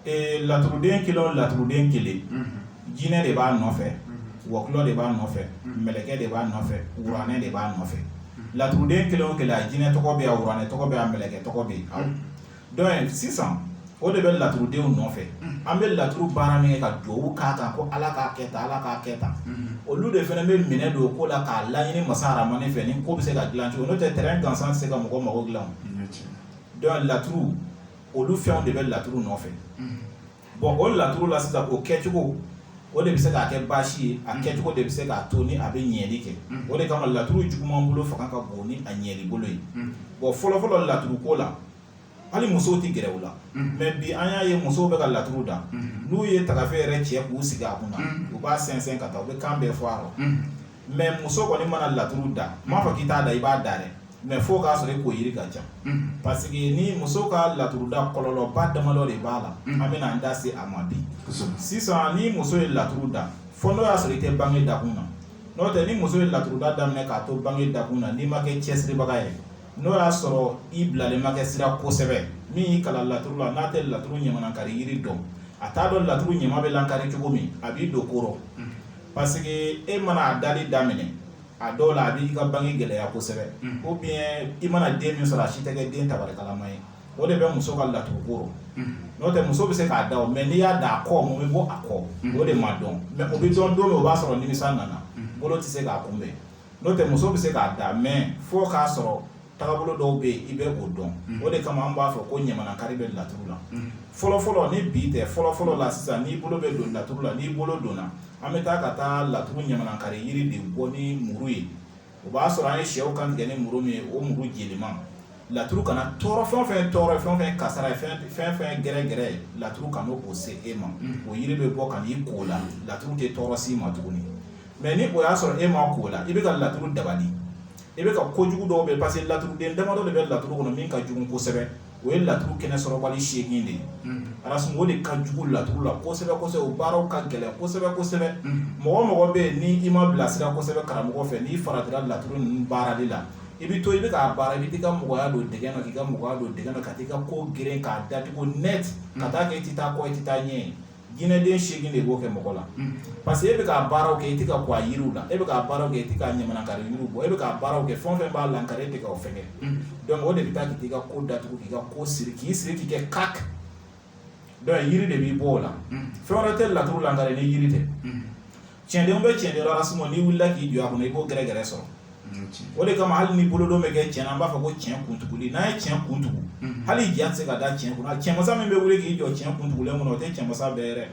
ee laturuden kelen o laturuden kelen jinɛ de b'a nɔfɛ wɔkulɔ de b'a nɔfɛ mɛlɛkɛ de b'a nɔfɛ wuranɛ de b'a nɔfɛ laturuden kelen o kelen a jinɛ tɔgɔ bɛ yen a wuranɛ tɔgɔ bɛ yen a mɛlɛkɛ tɔgɔ bɛ yen donc sisan o de bɛ laturudenw nɔfɛ an bɛ laturu baara min kɛ ka dugawu k'a kan ko ala k'a kɛ tan ala k'a kɛ tan olu de fana bɛ minɛ don ko la k'a laɲini masa aramani fɛ ni ko bɛ se ka dilan cogo n'o tɛ terrain gansan tɛ se ka mɔgɔ mago dilan donc laturu olu fɛnw de bɛ laturu nɔfɛ bon o laturu la sisan o kɛcogo o de bɛ se k'a kɛ baasi ye a kɛcogo de bɛ se k'a to ni a bɛ ɲɛli kɛ o de kama laturu juguman bolo fanga ka bon ni a ɲɛli bolo ye bon fɔlɔfɔlɔ laturu ko la hali musow tɛ gɛrɛ u la mais bi an y'a ye musow bɛ ka laturu da n'u ye tagafe yɛrɛcɛ k'u sigi a kunna u b'a sɛnsɛn ka taa u bɛ kan bɛɛ fɔ a rɔ mais muso kɔni mana laturu da n m'a fɔ k'i t'a da i b'a da dɛ mais fo k'a sɔrɔ e ko yiri ka ca parce que ni muso ka laturu da kɔlɔlɔba damadɔ de b'a la an bɛna an da se a ma bi sisan ni muso ye laturu da fo n'o y'a sɔrɔ i tɛ bange dakun na n'o tɛ ni muso ye laturuda daminɛ k'a to bange dakun na n'i ma kɛ cɛsiribaga ye n'o y'a sɔrɔ i bilalen ma kɛ sira kosɛbɛ min y'i kalan laturu la n'a tɛ laturu ɲamanakari yiri dɔn a t'a dɔn laturu ɲama bɛ lankari cogo min a b'i don ko rɔ parce que e mana a dali daminɛ a dɔw la a b'i ka bange gɛlɛya kosɛbɛ ou bien i mana den min sɔrɔ a si tɛ kɛ den tabarikalama ye o de bɛ muso ka laturu ko rɔ n'o tɛ muso bɛ se k'a da o mais n'i y'a da a kɔ mun bɛ bɔ a kɔ o de ma dɔn mais o bɛ dɔn don min o b'a sɔrɔ nimisa nana bolo tɛ se k'a kunbɛn n'o tɛ muso bɛ se k'a da mais fo k'a sɔrɔ taabolo dɔw bɛ yen i bɛ o dɔn o de kama an b'a fɔ ko ɲamanakari bɛ laturu la fɔlɔfɔlɔ ni bi tɛ fɔlɔfɔlɔ la sisan n'i bolo bɛ don laturu la n'i bolo donna an bɛ taa ka taa laturu ɲamanakari yiri de bɔ ni muru ye o b'a sɔrɔ an ye sɛw kan tigɛ ni muru min ye o muru jeliman laturu kana tɔɔrɔ fɛn o fɛn tɔɔrɔ fɛn o fɛn kasara ye fɛn o fɛn gɛrɛgɛrɛ ye laturu kana o se e ma o yiri bɛ bɔ ka n'i k'o la laturu tɛ tɔɔrɔ s'i ma tuguni mais ni o y'a sɔrɔ e ma k'o la i bɛ ka laturu dabali i bɛ ka kojugu dɔw bɛ parce que laturuden damadɔ de bɛ laturu kɔnɔ min ka jugu kosɛbɛ o ye laturu kɛnɛ sɔrɔbali seegin de ye a sun o de ka jugu laturu la kosɛbɛ kosɛbɛ o baaraw ka gɛlɛn kosɛbɛ kosɛbɛ mɔgɔ mɔgɔ bɛ yen ni i ma bilasira kosɛbɛ karamɔgɔ fɛ n'i faratira laturu nin baarali la i bɛ to i bɛ k'a baara i bɛ t'i ka mɔgɔya don dɛgun na k'i ka mɔgɔya don dɛgun na ka t'i ka ko geren k'a datugu net ka t'a kɛ i tɛ taa kɔ i tɛ taa ɲɛ jinɛden seegin de b'o kɛ mɔgɔ la parce que e bɛ k'a baaraw kɛ i tɛ ka ko a yiriw la e bɛ k'a baaraw kɛ i tɛ ka ɲamanakari yiriw bɔ e bɛ k'a baaraw kɛ fɛn o fɛn b'a lankari e tɛ k'o fɛn kɛ donc o de bɛ taa k'i ka ko datugu k'i ka ko siri k'i siri k'i kɛ kak donc yiri de b'i bɔ o la fɛn wɛrɛ tɛ laturu lankari ni yiri tɛ cɛndenw bɛ cɛn dɔrɔn sinon n'i wulila k'i jɔ a kɔnɔ i b'o gɛrɛ gɛrɛ sɔrɔ o de kama hali ni bolodon bɛ kɛ cɛn na an b'a fɔ ko cɛn kuntugu n'a ye cɛn kuntugu hali ja tɛ se ka da cɛn kunna cɛmasa min bɛ wuli k'i jɔ cɛn kuntugu kɔnɔ o tɛ cɛmasa bɛɛ yɛrɛ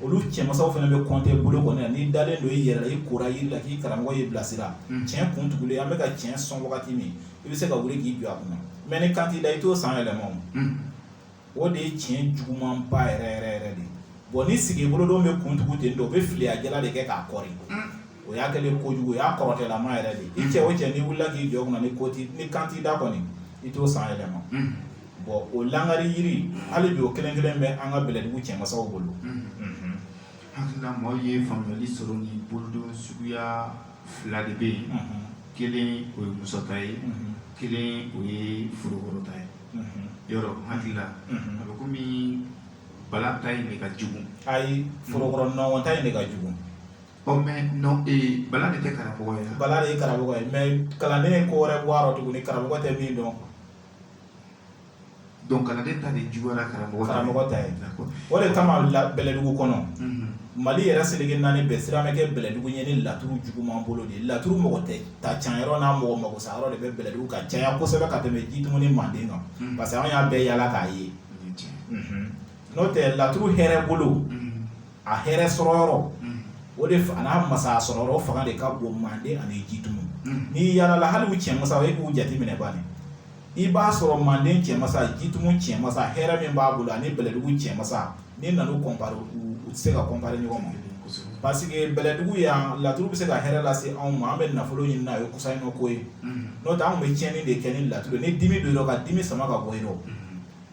olu cɛmasaw fana bɛ kɔnte bolokɔni na n'i dalen don i yɛrɛ la i kora yiri la k'i karamɔgɔ y'i bilasira cɛn kuntugu an bɛ ka cɛn sɔn wagati min i bɛ se ka wuli k'i jɔ a kunna mɛ ni kan t'i da i t'o san yɛlɛma o de ye tiɲɛ jugumanba yɛrɛ yɛrɛ yɛrɛ de bon ni sigi bolodon bɛ kuntugu ten don o bɛ filiya jala de kɛ k'a koori o y'a kɛlen kojugu o y'a kɔrɔtɛlama yɛrɛ de i cɛ o cɛ n'i wulila k'i jɔ kunna ni kan t'i da kɔni i t'o san yɛlɛma bon o lankari yiri hali bi o kelen kelen bɛ an ka bɛlɛdugu cɛmasaw bolo hakilila maaw ye faamuyali sɔrɔ ni bolodon suguya fila de bɛ yen kelen o ye musa ta ye kelen o ye forokoro ta ye yɔrɔ hakili la a bɛ kɔmi bala ta in de ka jugu ayi forokoro nɔnkɔn ta in de ka jugu ɔ mais non ee bala de tɛ karamɔgɔ ye bala de ye karamɔgɔ ye mɛ kalanden ye ko wɛrɛ bɔ a rɔ tuguni karamɔgɔ tɛ min dɔn donc kalanden ta de juguyara karamɔgɔ ta ye. karamɔgɔ ta ye D'accord. o de kama la bɛlɛdugu kɔnɔ Mhm. mali yɛrɛ seleke naani bɛɛ siran bɛ kɛ bɛlɛdugu ye ni laturu juguman bolo de ye laturu mɔgɔ tɛ ta can yɔrɔ n'a mɔgɔ mako sa yɔrɔ de bɛ bɛlɛdugu ka caya kosɛbɛ ka tɛmɛ jitumu ni manden kan unhun, parce que an y'a bɛɛ yala k'a ye unhun, n'o tɛ laturu hɛrɛ bolo unhun, a hɛrɛ sɔrɔ yɔrɔ unhun, o de fa- an'a masaya sɔrɔ yɔrɔ o fanga de ka bon manden ani jitumu unhun. n'i yalala hali u cɛmasaw e k'u jateminɛ bani i b'a sɔrɔ manden cɛmasa jitumu cɛmasa hɛrɛ min b'a bolo ani bɛlɛdugu cɛmasa n'i nan'u comparer u tɛ se ka comparer ɲɔgɔn ma parce que bɛlɛdugu yan laturu bɛ se ka hɛrɛ lase se anw ma an bɛ nafolo ɲini n'a ye kɔsa in ko ye n'o tɛ anw bɛ tiɲɛni de kɛ ni laturu ni dimi don dɔ ka dimi sama ka bɔ yen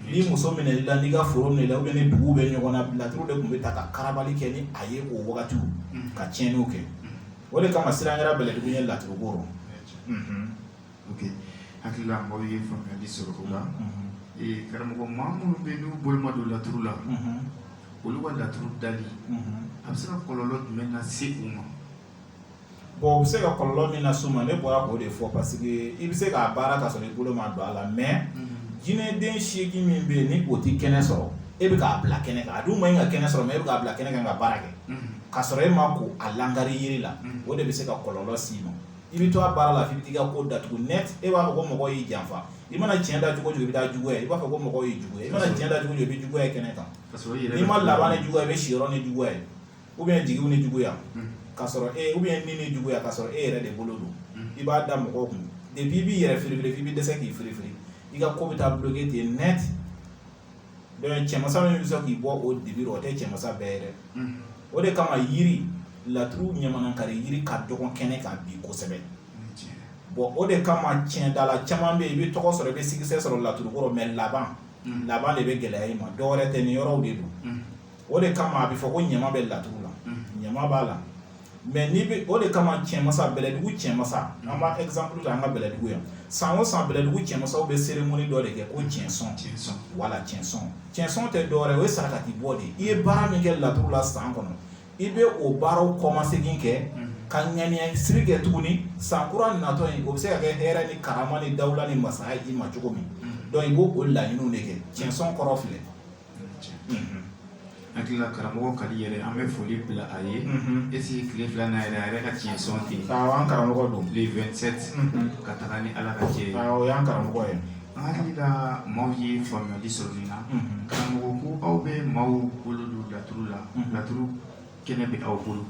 n'i muso minɛ i la n'i ka foro minɛ la ou bien ni dugu bɛ ɲɔgɔn na laturu de tun bɛ ta ka karabali kɛ ni a ye o wagati ka tiɲɛni kɛ o de kama siran kɛra bɛlɛdugu ye laturu la hakilila mɔgɔw ye faamuyali sɔrɔ o la karamɔgɔ maa minnu bɛ n'u bolo ma don laturu la olu ka laturu dali a bɛ se ka kɔlɔlɔ jumɛn lase u ma bon u bɛ se ka kɔlɔlɔ min las'u ma ne bɔra k'o de fɔ parce que i bɛ se k'a baara ka sɔrɔ i bolo ma don a la mais jinɛden seegin min bɛ yen ni o tɛ kɛnɛ sɔrɔ e bɛ k'a bila kɛnɛ kan a dun man ɲi ka kɛnɛ sɔrɔ mais e bɛ k'a bila kɛnɛ kan ka baara kɛ ka sɔrɔ e ma ko a lankari yiri la o de bɛ se ka kɔlɔlɔ s'i ma i bɛ to a baara la f'i bɛ t'i ka ko datugu net e b'a fɔ ko mɔgɔ y'i janfa i mana tiɲɛ da cogo o cogo i bɛ taa juguya i b'a fɔ ko mɔgɔ y'i juguya i mana tiɲɛ da cogo o cogo i bɛ juguya kɛnɛ kan ka sɔrɔ i yɛrɛ n'i ma laban ni juguya i bɛ siyɔrɔ ni juguya ye ou bien jigiw ni juguya ka sɔrɔ e ou bien ni ni juguya ka sɔrɔ e yɛrɛ de bolo don i b'a da mɔgɔw kun depuis i b'i yɛrɛ firifiri f'i bɛ dɛsɛ k'i firifiri i ka ko bɛ taa bloquer ten net dɔnku cɛmasa min bɛ sɔn k'i bɔ o dibi rɔ o tɛ cɛmasa bɛɛ ye dɛ o de kama yiri laturu ɲamanakari yiri ka dɔgɔn kɛnɛ kan bi kosɛbɛ bɔn o de kama cɛndala caman bɛ yen i bɛ tɔgɔ sɔrɔ i bɛ sigisɛ sɔrɔ laturu ko rɔ mɛ laban laban de bɛ gɛlɛya i ma dɔwɛrɛ tɛ nin yɔrɔw de don o de kama a bɛ fɔ ko ɲama bɛ laturu la ɲama b'a la mɛ n'i bɛ o de kama cɛmasa bɛlɛdugu cɛmasa an b'a ezanpuru ta an ka bɛlɛdugu yan san o san bɛlɛdugu cɛmasaw bɛ seremoni dɔ de kɛ ko cɛnsɔn wala cɛnsɔn cɛnsɔn tɛ dɔwɛrɛ o ye sarakati bɔ de i ye baara min kɛ laturu la san kɔnɔ i bɛ o baaraw kɔmasegin kɛ ka ŋaniya siri kɛ tuguni san kura natɔ in o bɛ se ka kɛ hɛrɛ ni karama ni dawula ni masaya i ma cogo min dɔnku i b'o o laɲini de kɛ cɛnsɔn kɔrɔ filɛ hakili la karamɔgɔ kadi yɛrɛ an bɛ foli bila a ye ese tile fila na yɛrɛ a yɛrɛ ka tiɲɛsɔn ten an karamɔgɔ don le 27 ka taga ni ala ka cɛ ye o y'an karamɔgɔ ye an hakili la maaw ye faamuyali sɔrɔ nin na karamɔgɔ ko aw bɛ maaw bolo don laturu la laturu kɛnɛ bɛ aw bolo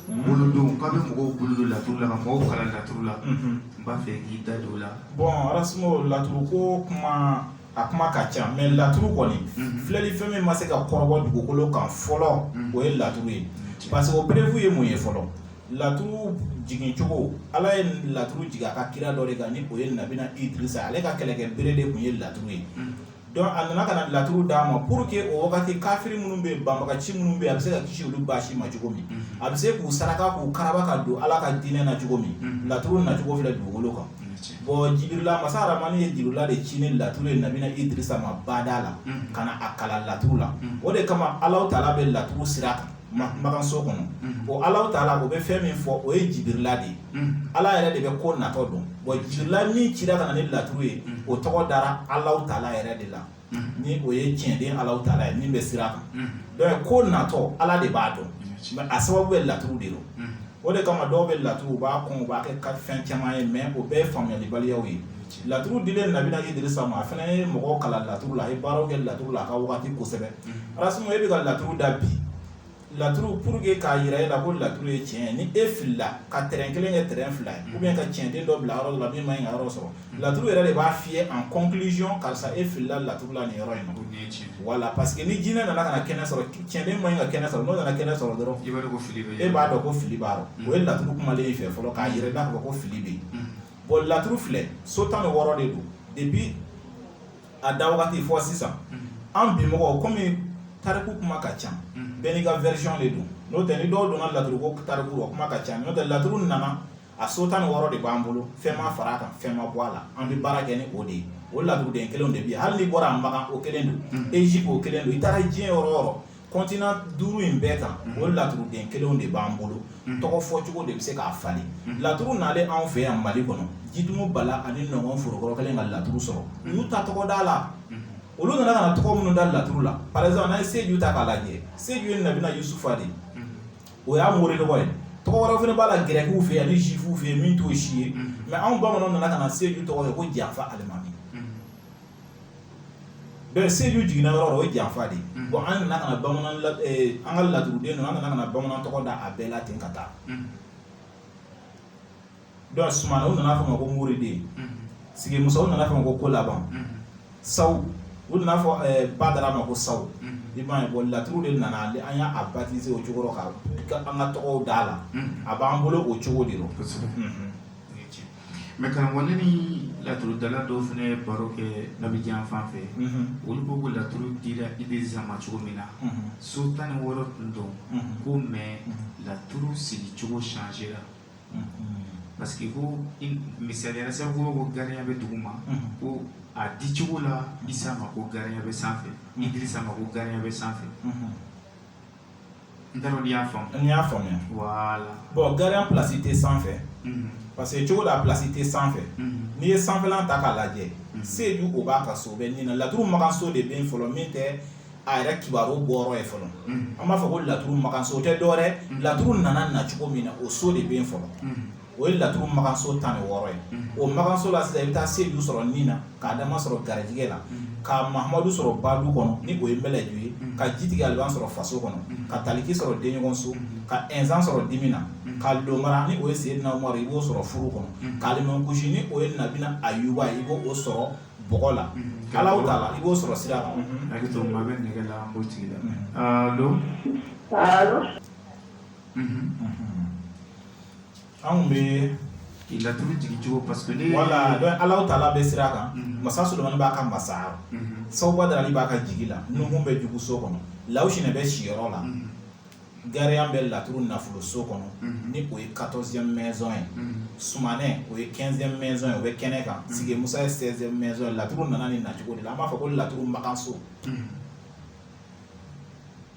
bolodon k'aw bɛ mɔgɔw bolo don laturu la ka mɔgɔw kalan laturu la n b'a fɛ k'i da don o la bɔn arasimo laturu ko kuma a kuma ka ca mɛ laturu kɔni filɛli fɛn min ma se ka kɔrɔbɔ dugukolo kan fɔlɔ o ye laturu ye parce que o preuve ye mun ye fɔlɔ laturu jigin cogo ala ye laturu jigin a ka kira dɔ de kan ni o ye nabina idirisa ale ka kɛlɛkɛ bere de tun ye laturu ye a nana ka na laturu d'a ma pour que o wagati kafiri minnu bɛ yen banbagaci minnu bɛ yen a bɛ se ka kisi olu baasi ma cogo min a bɛ se k'u saraka k'u karaba ka don ala ka diinɛ na cogo min laturu nacogo filɛ dugukolo kan bɔn jibirila masa aramani ye jibirila de ci ni laturu ye nabina idirisa ma bada la ka na a kalan laturu la o de kama alahu taala bɛ laturu sira kan makanso kɔnɔ o alahu taala o bɛ fɛn min fɔ o ye jibirila de ye ala yɛrɛ de bɛ ko natɔ dɔn bɔn jibirila min cira ka na ni laturu ye o tɔgɔ dara alahu taala yɛrɛ de la ni o ye tiɲɛden alahu taala ye min bɛ sira kan dɔnku ko natɔ ala de b'a dɔn mɛ a sababu bɛ laturu de don o de kama dɔw bɛ laturu u b'a kɔn u b'a kɛ ka fɛn caman ye mɛ o bɛɛ ye faamuyalibaliyaw ye laturu dilen nabina idirisa ma a fana ye mɔgɔw kalan laturu la a ye baaraw kɛ laturu la a ka wagati kosɛbɛ arasimo e bɛ ka laturu da bi Laturu pour que k'a yira e la ko laturu ye tiɲɛ ye ni e filila ka tɛrɛn kelen kɛ tɛrɛn fila ye ou bien ka cɛnden dɔ bila yɔrɔ dɔ la min ma ɲi ka yɔrɔ sɔrɔ laturu yɛrɛ de b'a f'i ye en conclusion karisa e filila laturu la nin yɔrɔ in na wala parce que ni jinɛ nana ka na kɛnɛ sɔrɔ cɛnden ma ɲi ka kɛnɛ sɔrɔ n'o nana kɛnɛ sɔrɔ dɔrɔn e b'a dɔn ko fili b'a rɔ o ye laturu kumalen i fɛ fɔlɔ k'a yira i la ko fili bɛ yen bon laturu filɛ so tan ni wɔɔrɔ de don depuis a da wagati fo sisan an bi mɔgɔw kɔmi tariku kuma ka ca bɛɛ n'i ka version de don n'o tɛ ni dɔw donna laturu ko tariku o kuma ka ca n'o tɛ laturu nana a so tan ni wɔɔrɔ de b'an bolo fɛn ma fara a kan fɛn ma bɔ a la an bɛ baara kɛ ni o de ye o laturuden kelenw de bɛ yen hali n'i bɔra a makan o kelen don Egypte o kelen don i taara diɲɛ yɔrɔ o yɔrɔ Continent duuru in bɛɛ kan o laturuden kelenw de b'an bolo tɔgɔ fɔcogo de bɛ se k'a falen laturu nalen anw fɛ yan mali kɔnɔ Jitumu Bala ani Nɔngɔn Forokɔrɔ kɛlen ka laturu sɔrɔ u y'u ta tɔgɔ da la olu nana ka tɔgɔ minnu da laturu la par exemple n'an ye seju ta k'a lajɛ seju ye nabina Yusufa de o y'a mori tɔgɔ ye tɔgɔ wɛrɛ fana b'a la gɛrɛkiw fɛ yan ni juifuw fɛ yen min t'o si ye mais anw bamananw nana ka na seju tɔgɔ kɛ ko janfa alimami Bɛɛ seju jiginna yɔrɔ o ye janfa de ye bon an nana ka bamanan an ka laturuden ninnu an nana bamanan tɔgɔ da a bɛɛ la ten ka taa donc Sumana u nana fɔ ma ko Moriden Sigi Musa u nana fɔ ma ko Kolaban Sawu u nana fɔ Badara ma ko Sawu i b'a ye bon laturu de nana an y'a baptiser o cogo rɔ k'an ka tɔgɔw da la a b'an bolo o cogo de mais karamɔgɔ ne ni laturudala dɔw fana ye baro kɛ nabijan fan fɛ olu ko ko laturu dira Idrisa ma cogo min na so tan ni wɔɔrɔ tun don ko mais laturu sigi cogo changera parce que ko misaliya sababu ko gariyan bɛ dugu ma ko a di cogo la isa ma ko gariyan bɛ sanfɛ idrisa ma ko gariyan bɛ sanfɛ n t'a dɔn n'i y'a faamu n y'a faamuya voilà bon gariyan place tɛ sanfɛ parce que cogo la place tɛ sanfɛ n'i ye sanfɛlan ta k'a lajɛ seju o b'a ka so bɛ nin na laturu makanso de bɛ yen fɔlɔ min tɛ a yɛrɛ kibaru bɔyɔrɔ ye fɔlɔ an b'a fɔ ko laturu makanso o tɛ dɔwɛrɛ laturu nana na cogo min na o so de bɛ yen fɔlɔ. o ye laturu makanso tan ni wɔɔrɔ ye o makanso la sisan i bɛ taa seju sɔrɔ nin na k'Adama sɔrɔ garijɛgɛ la ka Mahamadu sɔrɔ badu kɔnɔ ni o ye Malɛju ye ka jitigi Aliban sɔrɔ faso kɔnɔ ka taliki sɔrɔ denɲɔgɔnso ka ɛnsan sɔrɔ dimi na ka Lomara ni o ye Seyidina Umaru i b'o sɔrɔ furu kɔnɔ k'Alimankusi ni o ye nabina Ayuba i b'o sɔrɔ bɔgɔ la k'Alahu taala i b'o sɔrɔ sira la bɛ nɛgɛ la don Mhm, mhm. anw bɛ k'i laturu jigin cogo parce que ne voilà donc Alahu taala bɛ sira kan mhm. masa Solomani b'a ka masaya Sawu Badarali b'a ka jigi la Nuhun bɛ jugu so kɔnɔ Lawusinɛ bɛ siyɔrɔ la gariyan bɛ laturu nafolo so kɔnɔ ni o ye 14e maison ye sumanɛ o ye 15e maison ye o bɛ kɛnɛ kan sigi musa ye 16e maison ye laturu nana nin nacogo de la an b'a fɔ ko laturu makanso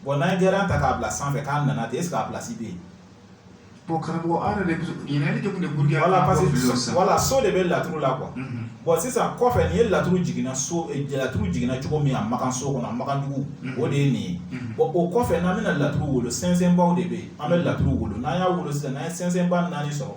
Bon n'an ye Gariyan ta k'a bila sanfɛ k'a nana ten est ce que a place bɛ yen? Bon karamɔgɔ an yɛrɛ de bɛ ɲininkali kɛ kun de ye pour que an ka bɔ fili la sisan, voilà so de bɛ laturu la quoi unhun, bon sisan kɔfɛ ni ye laturu jiginna so laturu jiginna cogo min a makan so kɔnɔ a makan dugu o de ye nin ye bon o kɔfɛ n'an bɛna laturu wolo sɛnsɛnbaaw de bɛ yen an bɛ laturu wolo n'an y'a wolo sisan n'an ye sɛnsɛnbaa naani sɔrɔ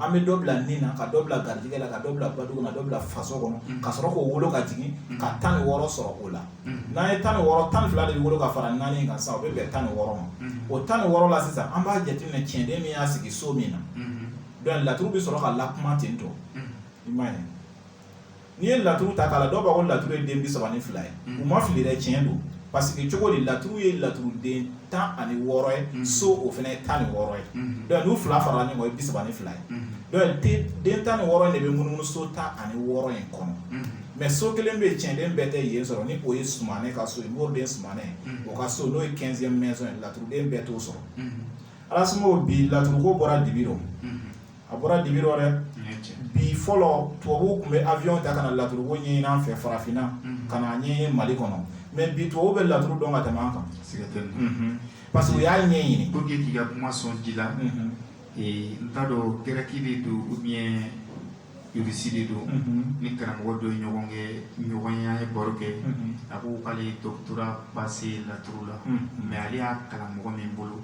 an bɛ dɔ bila nin na ka dɔ bila garijɛgɛ la ka dɔ bila badugu la ka dɔ bila faso kɔnɔ ka sɔrɔ k'o wolo ka jigin ka tan ni wɔɔrɔ sɔrɔ o la n'an ye tan ni wɔɔrɔ tan ni fila de bɛ wolo ka fara naani in kan sisan o bɛ bɛn tan ni wɔɔrɔ ma o tan ni wɔɔrɔ la sisan an b'a jateminɛ cɛnden min y'a sigi so min na donc laturu bɛ sɔrɔ ka lakuma ten tɔ i m'a ye n'i ye laturu ta k'a la dɔw b'a ko laturu ye den bi saba ni fila ye u ma fili dɛ tiɲɛ don parce que cogo di laturu ye laturuden tan ani wɔɔrɔ ye so o fana ye tan ni wɔɔrɔ ye donc n'u fila farala ɲɔgɔn ye bi saba ni fila ye donc den tan ni wɔɔrɔ in de bɛ munumunu so tan ani wɔɔrɔ in kɔnɔ mais so kelen bɛ yen cɛnden bɛɛ tɛ yen sɔrɔ ni o ye Sumanɛ ka so ye Moriden Sumanɛ o ka so n'o ye quinzième maison ye laturuden bɛɛ t'o sɔrɔ Alasimo bi laturuko bɔra dibi rɔ a bɔra dibi rɔ dɛ bi fɔlɔ tubabuw tun bɛ avion ta ka na laturuko ɲɛɲini an fɛ farafinna ka na ɲɛɲini Mali kɔnɔ mais bi tubabu bɛ laturu dɔn ka tɛmɛ an kan parce que u y'a ɲɛɲini ko k'i ka kuma sɔn ji la n t'a dɔn gɛrɛki de don ou bien irisi de don ni karamɔgɔ dɔ ye ɲɔgɔn kɛ ɲɔgɔnya ye baro kɛ a ko k'ale doctorat passé laturu la mais ale y'a kalan mɔgɔ min bolo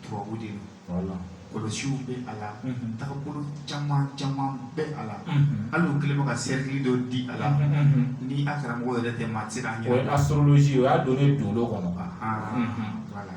tubabu de don kɔlɔsiw bɛ a la tagabolo caman caman bɛ a la hali u kɛlen bɛ ka cercle dɔ di a la ni a karamɔgɔ yɛrɛ tɛ maa tɛ se k'a ɲɛ astrologie o y'a donner dolo kɔnɔ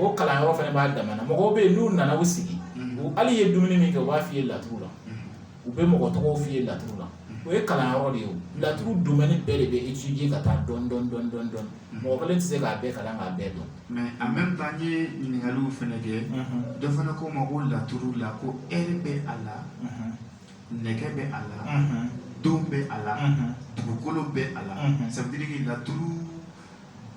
o kalanyɔrɔ fana b'a damana mɔgɔw bɛ yen n'u nana u sigi hali i ye dumuni min kɛ u b'a f'i ye laturu la u bɛ mɔgɔ tɔgɔ f'i ye laturu la o ye kalanyɔrɔ de ye laturu domaine bɛɛ de bɛ étudier ka taa dɔɔnin dɔɔnin mɔgɔ kelen tɛ se k'a bɛɛ kalan k'a bɛɛ dɔn mais en même temps n ye ɲininkaliw fana kɛ dɔ fana ko n ma ko laturu la ko heure bɛ a la nɛgɛ bɛ a la don bɛ a la dugukolo bɛ a la ça veut dire que laturu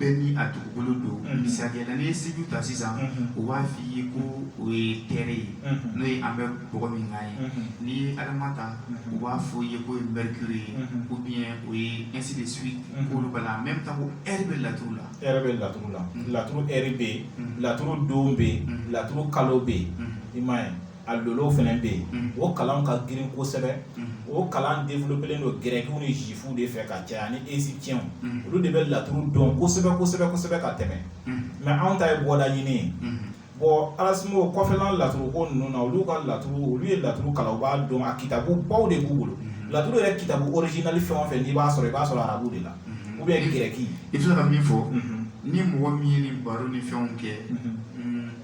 bɛɛ ni a dugukolo don mm-hmm. misaliya la n'i ye Siju ta sisan mm-hmm. u b'a f'i ye ko o ye Terre ye mm-hmm. n'o ye an bɛ bɔgɔ min kan ye n'i ye Adama ta u b'a fɔ i ye k'o ye Mercure ye ou bien o ye ainsi de suite k'olu b'a la en même temps ko heure bɛ laturu la heure bɛ laturu la laturu heure bɛ yen laturu don bɛ yen laturu kalo bɛ yen i m'a ye a lolo fana bɛ yen o kalan ka girin kosɛbɛ o kalan développélen don grɛkiw ni zifuw de fɛ ka caya ni égyptiens olu de bɛ laturu dɔn kosɛbɛ kosɛbɛ kosɛbɛ ka tɛmɛ mais anw ta ye bɔda ɲini ye bon Alasimo kɔfɛla laturu ko ninnu na olu ka laturu olu ye laturu kalan u b'a dɔn a kitabu baw de b'u bolo laturu yɛrɛ kitabu originali fɛn o fɛn n'i b'a sɔrɔ i b'a sɔrɔ arabu de la ou bien grɛki i bɛ ka min fɔ ni mɔgɔ min ye nin baro ni fɛnw kɛ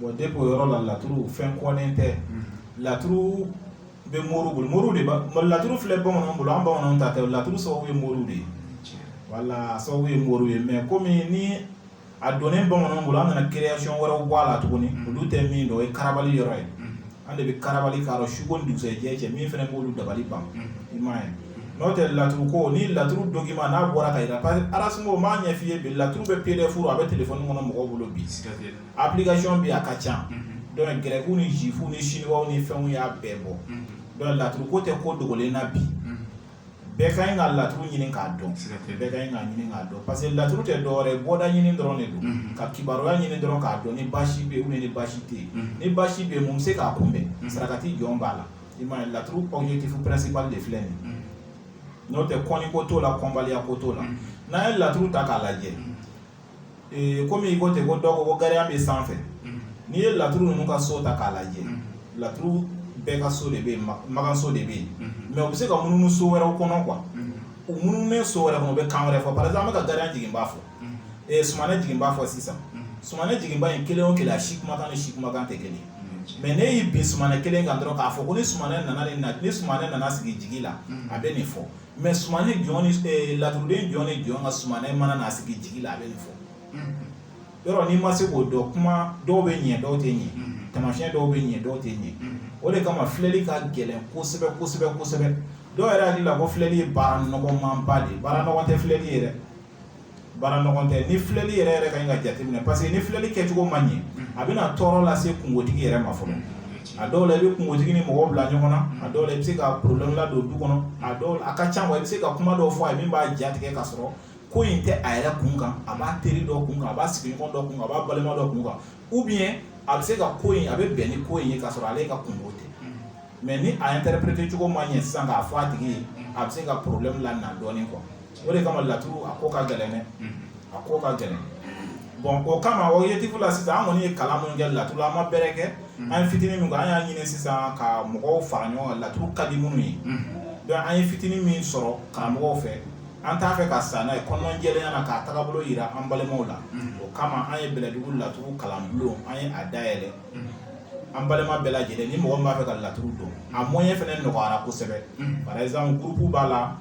Bon donc o yɔrɔ la laturu fɛn kɔnnen tɛ laturu bɛ moriw bolo moriw de ka laturu filɛ bamananw bolo an bamananw ta tɛ laturu sababu ye moriw de ye wala sababu ye moriw ye mais komi ni a donnen bamananw bolo an nana création wɛrɛw bɔ a la tuguni olu tɛ min dɔn o ye karabali yɔrɔ ye an de bɛ karabali k'a dɔn suko ni dugusɛjɛ cɛ min fana b'olu dabali ban i m'a ye n'o tɛ laturu ko ni laturu document n'a bɔra ka jira parce que arasimo o m'a ɲɛ f'i ye bi laturu bɛ PDF a bɛ téléphone kɔnɔ mɔgɔw bolo bi application bɛ yen a ka ca donc grɛkiw ni zifuw ni siniwaw ni fɛnw y'a bɛɛ bɔ donc laturu ko tɛ ko dogolen na bi bɛɛ ka ɲi ka laturu ɲini k'a dɔn bɛɛ ka ɲi ka ɲini k'a dɔn parce que laturu tɛ dɔwɛrɛ ye bɔda ɲini dɔrɔn de don ka kibaruya ɲini dɔrɔn k'a dɔn ni baasi bɛ yen ni baasi tɛ yen ni baasi bɛ yen mun bɛ se k'a kunbɛn sarakati jɔn b'a la i m'a ye laturu objectif principal de filɛ nin ye n'o tɛ kɔnni ko t'o la kɔnbaliya ko t'o la n'an ye laturu ta k'a lajɛ kɔmi i ko ten ko dɔw ko gariya bɛ sanfɛ n'i ye laturu ninnu ka so ta k'a lajɛ laturu bɛɛ ka so de bɛ yen makanso de bɛ yen mais u bɛ se ka munumunu so wɛrɛw kɔnɔ quoi u munumununen so wɛrɛ kɔnɔ u bɛ kan wɛrɛ fɔ par exemple an bɛ ka gariya jiginba fɔ ee sumanɛ jiginba fɔ sisan sumanɛ jiginba in kelen o kelen a si kumakan ni si kumakan tɛ kelen mais ne y'i bin sumanɛ kelen kan dɔrɔn k'a fɔ ko ni sumanɛ nana ni sumanɛ nana sigi jigi la a bɛ nin fɔ mais sumanɛ jɔn laturuden jɔn ni jɔn ka sumanɛ mana na sigi jigi la a bɛ nin fɔ yɔrɔ n'i ma se k'o dɔn kuma dɔw bɛ ɲɛ dɔw tɛ ɲɛ tamasiɲɛ dɔw bɛ ɲɛ dɔw tɛ ɲɛ o de kama filɛli ka gɛlɛn kosɛbɛ kosɛbɛ kosɛbɛ dɔw yɛrɛ hakili la ko filɛli ye baara nɔgɔmanba de ye baara nɔgɔn tɛ filɛli ye dɛ baara nɔgɔn tɛ ni filɛli yɛrɛ yɛrɛ ka ɲi ka jateminɛ parce que ni filɛli kɛcogo ma ɲɛ a bɛna tɔɔrɔ lase kungotigi yɛrɛ ma fɔlɔ a dɔw la i bɛ kungotigi ni mɔgɔw bila ɲɔgɔn na a dɔw la i bɛ se ka problème ladon du kɔnɔ a dɔw la a ka ca wa i bɛ se ka kuma dɔw fɔ a ye min b'a jatigɛ ka sɔrɔ ko in tɛ a yɛrɛ kun kan a b'a teri dɔ kun kan a b'a sigiɲɔgɔn dɔ kun kan a b'a balima dɔ kun kan ou bien a bɛ se ka ko in a bɛ bɛn ni ko in ye ka sɔrɔ ale ka kungo tɛ mais ni a interpréter cogo ma ɲɛ sisan k'a fɔ a tigi ye a bɛ se ka problème lana dɔɔnin quoi o de kama laturu a ko ka gɛlɛn dɛ a ko ka gɛlɛn bon o kama objectif la sisan an kɔni ye kalan minnu kɛ laturu la an ma bɛrɛ kɛ an ye fitinin min kɛ an y'a ɲini sisan ka mɔgɔw fara ɲɔgɔn kan laturu ka di minnu ye donc an ye fitinin min sɔrɔ karamɔgɔw fɛ an t'a fɛ ka sa n'a ye kɔnɔna jɛlenya na k'a tagabolo yira an balimaw la o kama an ye bɛlɛdugu laturu kalan bulon an ye a dayɛlɛ an balima bɛɛ lajɛlen ni mɔgɔ min b'a fɛ ka laturu dɔn a moyen fɛnɛ nɔgɔyara kosɛbɛ par exemple groupe b'a la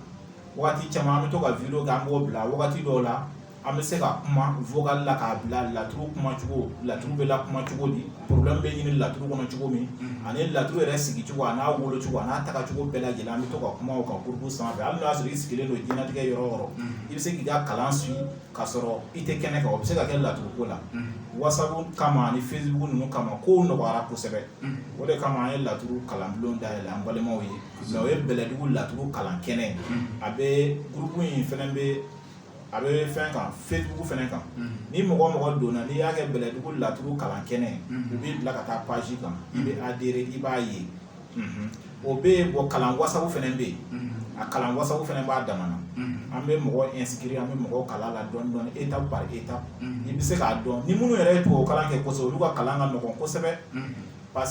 waati caman an bɛ to ka video kɛ an b'o bila wagati dɔw la an bɛ se ka kuma vocal la k'a bila laturu kuma cogo laturu bɛ lakuma cogo di problème bɛ ɲini laturu kɔnɔ cogo min ani laturu yɛrɛ sigi cogo a n'a wolo cogo a n'a taga cogo bɛɛ lajɛlen an bɛ to ka kuma o kan groupe sanfɛ hali n'o y'a sɔrɔ i sigilen don diɲɛlatigɛ yɔrɔ o yɔrɔ i bɛ se k'i ka kalan suit k'a sɔrɔ i tɛ kɛnɛ kan o bɛ se ka kɛ laturu ko la whatsapp kama ani facebook ninnu kama kow nɔgɔyara kosɛbɛ o de kama an ye laturu kalanbulon dayɛlɛ an balimaw ye Mais o ye bɛlɛdugu laturu kalan kɛnɛ ye a bɛ groupe in fɛnɛ bɛ a bɛ fɛn kan facebook fɛnɛ kan ni mɔgɔ donna n'i y'a kɛ bɛlɛdugu laturu kalan kɛnɛ u b'i bila ka taa page kan i bɛ adhérer i b'a ye o bɛ yen bon kalan whatsapp fɛnɛ bɛ yen a kalan whatsapp fɛnɛ b'a damana an bɛ mɔgɔ inscrire an bɛ mɔgɔ kalan la dɔɔnin dɔɔnin étape par étape i bɛ se k'a dɔn ni minnu yɛrɛ ye tubabu kalan kɛ kosɛbɛ olu ka kalan ka nɔgɔn kosɛbɛ pa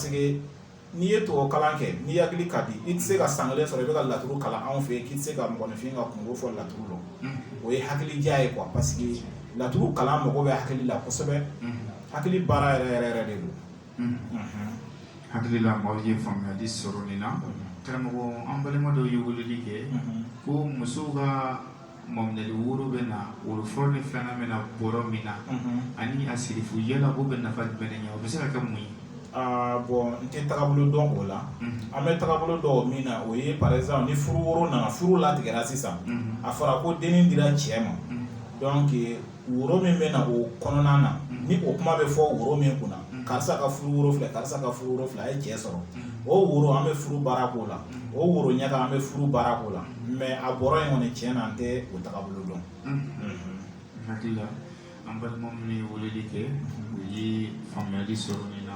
n'i ye tubabu kalan kɛ n'i hakili ka di i tɛ se ka san kelen sɔrɔ i bɛ ka laturu kalan anw fɛ k'i tɛ se ka mɔgɔninfin ka kungo fɔ laturu la o ye hakili diya ye quoi parce que laturu kalan mago bɛ hakili la kosɛbɛ hakili baara yɛrɛ yɛrɛ yɛrɛ de don hakili la maaw ye faamuyali sɔrɔ nin na karamɔgɔ an balima dɔw ye weleli kɛ ko musow ka maminɛli woro bɛ na woro fɔlɔ ni filanan bɛ na bɔrɔ min na ani a sirifu yala o bɛ nafa jumɛn de ɲɛ o bɛ se ka kɛ mun ye bon n tɛ tagabolo dɔn o la an bɛ tagabolo dɔn min na o ye par exemple ni furu woro nana furu latigɛra sisan a fɔra ko dennin dira cɛ ma donc woro min bɛ na o kɔnɔna na ni o kuma bɛ fɔ woro min kunna karisa ka furu woro filɛ karisa ka furu woro filɛ a ye cɛ sɔrɔ o woro an bɛ furu baara k'o la o woro ɲaga an bɛ furu baara k'o la mais a bɔrɔ in kɔni tiɲɛ na an tɛ o tagabolo dɔn hakili la an balima minnu ye weleli kɛ u ye faamuyali sɔrɔ nin na